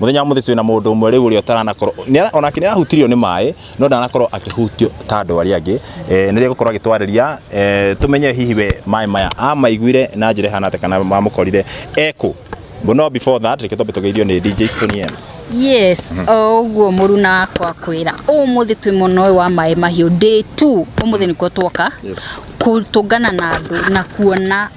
Mũthenya wa mũthĩ twĩna mũndũ ũmwe rĩu ũrĩa ũtaranakorwo nĩara- onake nĩarahutirio nĩ maĩ no ndanakorwo akĩhutio ta andũ arĩa angĩ eh, nĩrĩo gũkorwo agĩtwarĩria eh, tũmenye hihi we maĩ maya amaiguire na njĩra ĩhana atĩa kana mamũkorire ekũ But no before that reke twambe tũgeithio nĩ DJ Sonia yes o ũguo mũruna wakwa kwĩra ũmũthĩ twĩ mwena ũyũ wa maĩ mahiũ day two ũmũthĩ nĩkuo twoka Yes. kũtũngana na andũ na kuona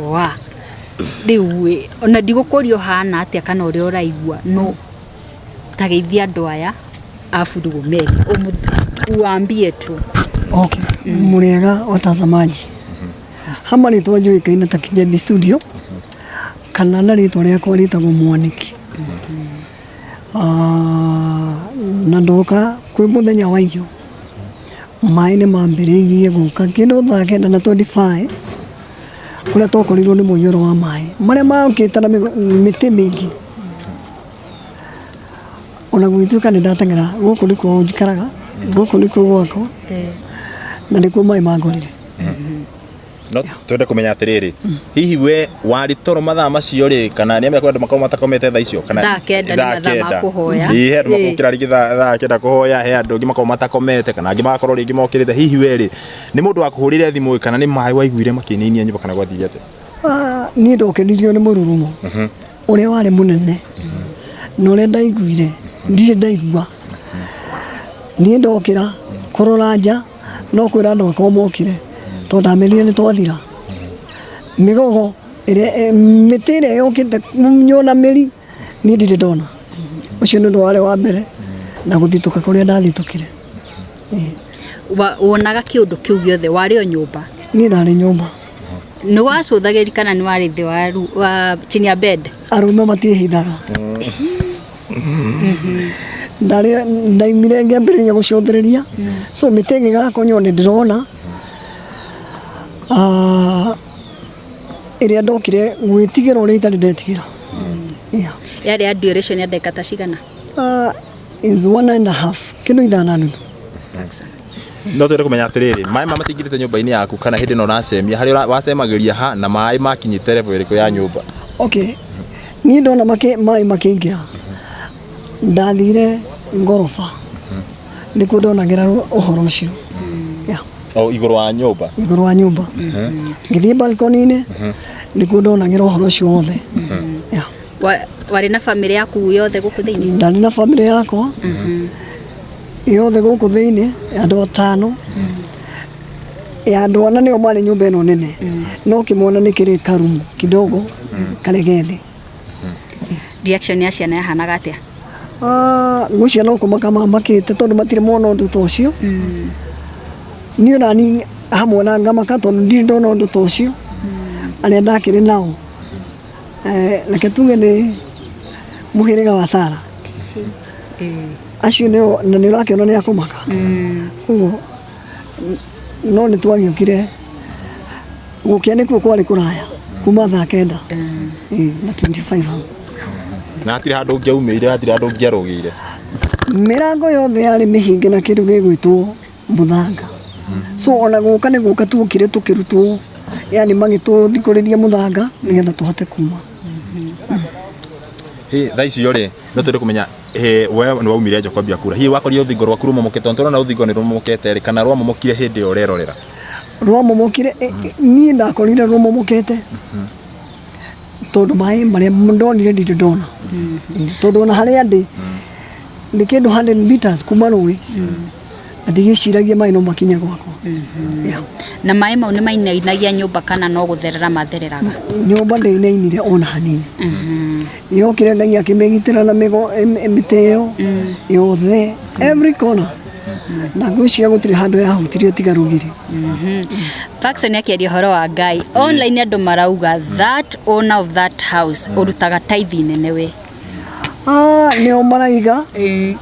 wa rä u ona ndigåkå ria å hana atä a kana å rä a å raigua no ta gä ithi andå aya aburugu meri uambie tu Okay. Muriega watazamaji. Hama rĩtwa njũĩkaine ta Kijebi Studio kana na rĩtwa rĩakwa rĩtagwo Mwaniki. Ah, na ndoka kwĩ mũthenya wa iyo maĩ nĩ mambĩrĩirie gũka kĩndũ thaa kenda na 25 kũrĩa twakorirwo nĩ mũiyũro wa maĩ marĩa maũkĩte na mĩtĩ mĩingĩ ona gũgĩtuĩka nĩ ndateng'era gũkũ nĩkuo njikaraga gũkũ nĩkuo gwakwa na nĩkuo maĩ mangorire no twende kå menya atä rä rä hihi we warä toro mathaa macio rä kana nä amekwa andå makorwo matakomete thaa icio kana Thaa kenda nĩ thaa mathaa ma kenda. kũhoya. Ĩ, he andå Ĩ. makorwo kä rarä thaa kenda kå hoya he andå angä makorwo matakomete kana angä magakorwo rä ngä mokä rä te hihi we rä nĩ mũndũ wakũhũrĩire thimũ ĩ kana nĩ maĩ waiguire makĩinainia nyũmba kana gwathiire atĩa Ah, niĩ ndokenirio nĩ mũrurumo ũrĩa warĩ mũnene na ũrĩa ndaiguire ndirĩ ndaigua niĩ ndokĩra kũrora nja no kwĩra andũ akwa mokire tondũ ndamenire nĩ twathira mĩgogo ĩrĩa eh, mĩtĩ ĩrĩa yokĩte nyona mĩri niĩ ndirĩ ndona ũcio nĩ ũndũ warĩ wa mbere na gũthitũka kũrĩa ndathitũkire Wa- wonaga kĩũndũ kĩu gĩothe warĩ o nyũmba niĩ ndarĩ nyũmba nĩ wacũthagĩri kana nĩ warĩ thĩ wa ru- wa chini ya bed arũme matiĩhithaga ndarĩ ndaimire ngĩambĩrĩria gũcũthĩrĩria so mĩtĩ ĩgĩgakonyo nĩ ndĩrona Ah, ĩrĩa ndokire gwĩtigĩra ũrĩa itarĩ ndetigĩra Yeah. yarĩ ya duration ya ndagĩka ta cigana is one and a half kilo ithano na nuthu Thanks. no twende kumenya atiriri maĩ ma matingirite nyũmba-inĩ yaku kana hĩndĩ ĩno ũracemia harĩa ũra- wacemagĩria ha na maĩ makinyĩte level ĩrĩkũ ya nyũmba okay niĩ ndona makĩ- maĩ makĩingĩra ndathire ngoroba nĩkuo ndonagĩra ru- ũhoro ũcio Yeah, o igũrũ wa nyũmba igũrũ wa nyũmba ngĩthiĩ balkoni-inĩ nĩkuo ndonagĩra ũhoro ũcio wothe Yeah. Wa- warĩ na bamĩrĩ yaku yothe gũkũ thĩinĩ ndarĩ na bamĩrĩ yakwa yothe gũkũ thĩinĩ ya andũ atano ya andũ ana nĩo marĩ nyũmba ĩno nene no kĩmwana nĩ kĩrĩ karumu kidogo karĩ gethĩ reaction ya ciana yahanaga atĩa Ah, gũcia no kũmaka mamakĩte tondũ matirĩ mona ũndũ ta ũcio niĩ nani hamwe na ngamaka tondũ ndirĩ ndona ũndũ ta ũcio arĩa ndakĩrĩ nao Eh, reke tuge nĩ mũhĩrĩga wa Sara acio nĩo na nĩ ũrakĩona nĩ akũmaka koguo n- no nĩ twagĩũkire gũkĩa nĩkuo kwarĩ kũraya kuma thaa kenda Eh, na 25 hau na hatirĩ handũ ũngĩaumĩire hatirĩ handũ ũngĩarũgĩire mĩrango yothe yarĩ mĩhinge na kĩndũ gĩgwĩtwo mũthanga so ona gũka nĩ gũka tuokire tũkĩrutwo yani magĩtũthikũrĩria mũthanga nĩgetha tũhote kuma Hĩ, thaa icio rĩ no twende kumenya hĩ, we nĩ waumire nja kwambia kura hihi wakorire rũthingo rwaku rũmomokete tondũ tũrona rũthingo nĩ rũmomokete rĩ kana rwamomokire hĩndĩ ĩyo ũrerorera rwamomokire eh, eh, niĩ ndakorire rũmomokete tondũ maĩ marĩa ndonire ndirĩ ndona tondũ ona harĩa ndĩ nĩ kĩndũ 100 meters kuma rũĩ na ndigĩciragia maĩ no makinye gwakwa Yeah. na maĩ mau nĩ mainainagia nyũmba kana no gũtherera mathereraga nyũmba ndĩinainire ona hanini Mhm. yokire ngai akĩmĩgitĩra na mĩgo em- em- mĩtĩ ĩyo yothe every corner na ngwĩciria gũtirĩ handũ yahutirio tiga rũgiri Mhm. Faxon akĩaria ũhoro wa ngai online andũ marauga that owner of that house ũrutaga tithe nene we Ah, nĩo maraiga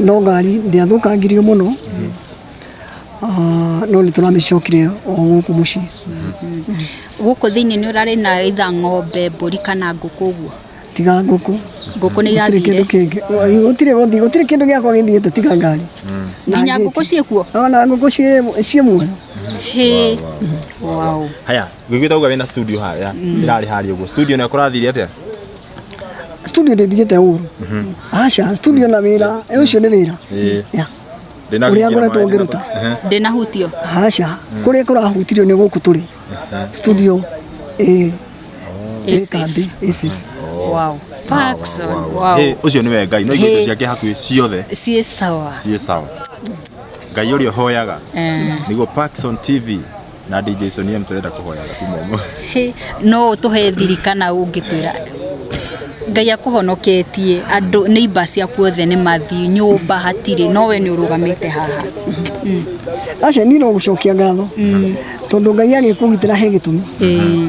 no ngari ndĩathũkangirio mũno Ah, no nĩ tũramĩcokire o gũkũ mũciĩ gũkũ thĩinĩ nĩ ũrarĩ na itha ng'ombe mbũri kana ngũkũ ũguo tiga ngũkũ ngũkũ nĩ gũtirĩ kĩndũ irathire kĩngĩ gũtirĩ gũthiĩ gũtirĩ kĩndũ gĩakwa gĩthiĩte tiga ngari Na nginya ngĩti. ngũkũ ciĩkuo No, na ngũkũ ciĩ- ciĩ muoyo hĩ wow haya wiguita uga wina studio haria irari haria uguo studio na kurathire atia studio ndĩthigĩte ũru aca studio na wĩra eh, ũcio nĩ wĩra Ĩĩ. Ya. Ndĩna Ũrĩa gũikĩra ngoretwo maĩ ngĩruta. ndĩna- Ehe. ndĩnahutio aca kũrĩa kũrahutirio nĩ gũkũ tũrĩ studio ĩ ĩ Ĩsĩ. kambĩ ĩci wow Paxson, Wow, wow, wow. wow. Hey, ũcio nĩwe ngai no Hey. indo ciake hakuhĩ ciothe ciĩ sawa ciĩ sawa ngai ũrĩa ũhoyaga Eh. nĩguo Paxson tv na DJ Sony M tũrenda kũhoya gaku momo Hĩ, no ũtũhe thiri kana ũngĩtwĩra ngai akũhonoketie andũ neighbor ciaku othe nĩ mathiĩ nyũmba hatirĩ no we nĩ ũrũgamĩte haha aca niĩ no gũcokia ngatho tondũ ngai agĩkũgitĩra he gĩtũmi Ĩĩ.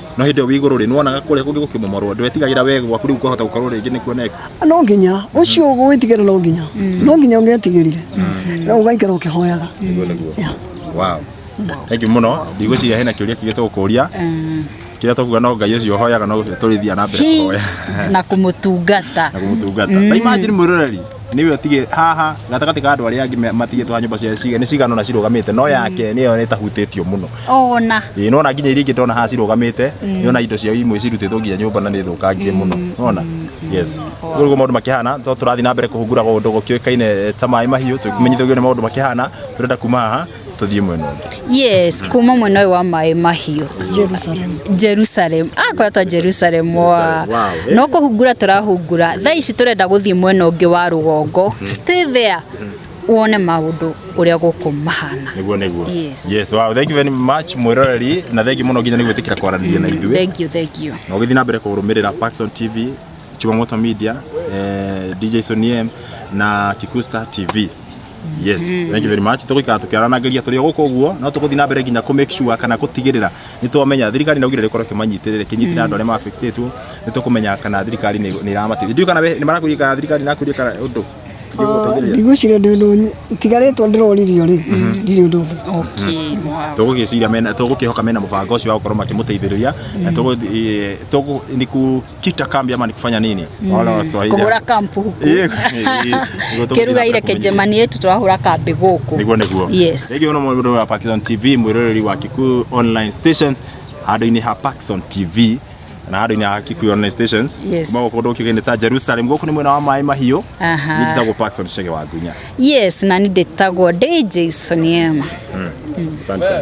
no hĩndĩ ĩyo wĩ igũrũ rĩ nĩwonaga kũrĩa kũngĩ gũkĩmomorwo ndwetigagĩra we gwaku rĩu kwahota gũkorwo rĩngĩ nĩkuo next no nginya ũcio gwĩtigĩra no nginya no nginya ũngĩetigĩrire no ũgaikara ũkĩhoyaga Nĩguo, nĩguo. Yeah. wow thank you mũno ndigwĩciria hena kĩũria kĩngĩ tũgũkũria kĩrĩa tũkuga no ngai ũcio ũhoyaga no tũrĩthia na mbere Hi, kũhoya na kũmũtungata na kũmũtungata na imagine mwĩroreri nĩwe ũtige haha gatagatĩ ka andũ arĩa angĩ me- matigĩtwo ha nyũmba cia ciga nĩ cigana ũna cirũgamĩte no yake nĩyo ĩtahutĩtio mũno ona ĩĩ nona nginya iria ingĩ ndona haha cirũgamĩte nĩona indo ciao imwe cirutĩtwo nginya nyũmba na nĩ thũkangie mũno nona yes ũguo nĩguo maũndũ makĩhana to tũrathiĩ na mbere kũhunguraga ũndũ gũkĩũĩkaine eh, ta maĩ mahiũ tũkĩmenyithagio nĩ maũndũ makĩhana tũrenda kuma haha tũthiĩ mwena ũngĩ yes kuma mwena ũyũ wa maĩ mahiũ Jerusalem. jerusalem akwatwa jerusalem wa Jerusalem, wow, eh. no kũhungura tũrahungura thaa ici tũrenda gũthiĩ mwena ũngĩ wa rũgongo stay there wone maũndũ ũrĩa gũkũ mahana nĩguo nĩguo Yes. yes wow thank you very much mwĩroreri na thengi mũno nginya nĩ gwĩtĩkĩra kwaranĩria na ithuĩ thank you thank you na ũgĩthiĩ na mbere kũrũmĩrĩra Paxson TV Chumamoto Media eh, DJ Soniem na Kikusta TV yes thank you very much tũgũikara tũkĩaranageria tũrĩ o gũkũ ũguo no tũgũthiĩ na mbere nginya kũ make sure kana gũtigĩrĩra nĩ twamenya thirikari no gire rĩkorwo kĩmanyitĩrĩre kĩnyitĩrĩre andũ arĩa mabĩktĩtwo nĩ tũkũmenya kana thirikari nĩ nĩ ĩramateithia ndiũ kana we- nĩ marakũria kana thirikari nakũria kana ũndũ Ndĩgũteithĩrĩria. ndigwĩciria ndĩ ũndũ nyi- tigarĩtwo ndĩroririo rĩ ndirĩ ũndũ ũngĩ Okay, wow. tũgũgĩciria mena tũgũkĩhoka mena mũbango ũcio wa gũkorwo makĩmũteithĩrĩria na tũgũ- eh, tũgũ- nĩ ku- kukita kambi ama ni kufanya nini? Wala Waswahili kugura kampu huku Eh, eh, kiruga ile kejemani yetu twahura kambi guku niguo niguo Yes. rĩngĩ ũno mũndũ wa Parkson TV mwĩroreri wa Kikuyu online stations handũ-inĩ ha Parkson TV na handũ-inĩ ha Kikuyu online stations Yes. kuma gũkũ ndũkĩgĩnĩ ta Jerusalem gũkũ nĩ mwena wa maĩ mahiũ Aha. nĩtagwo Parkson Chege wa Gunya yes na nĩ ndĩtagwo ndĩ Jason Ema asante sana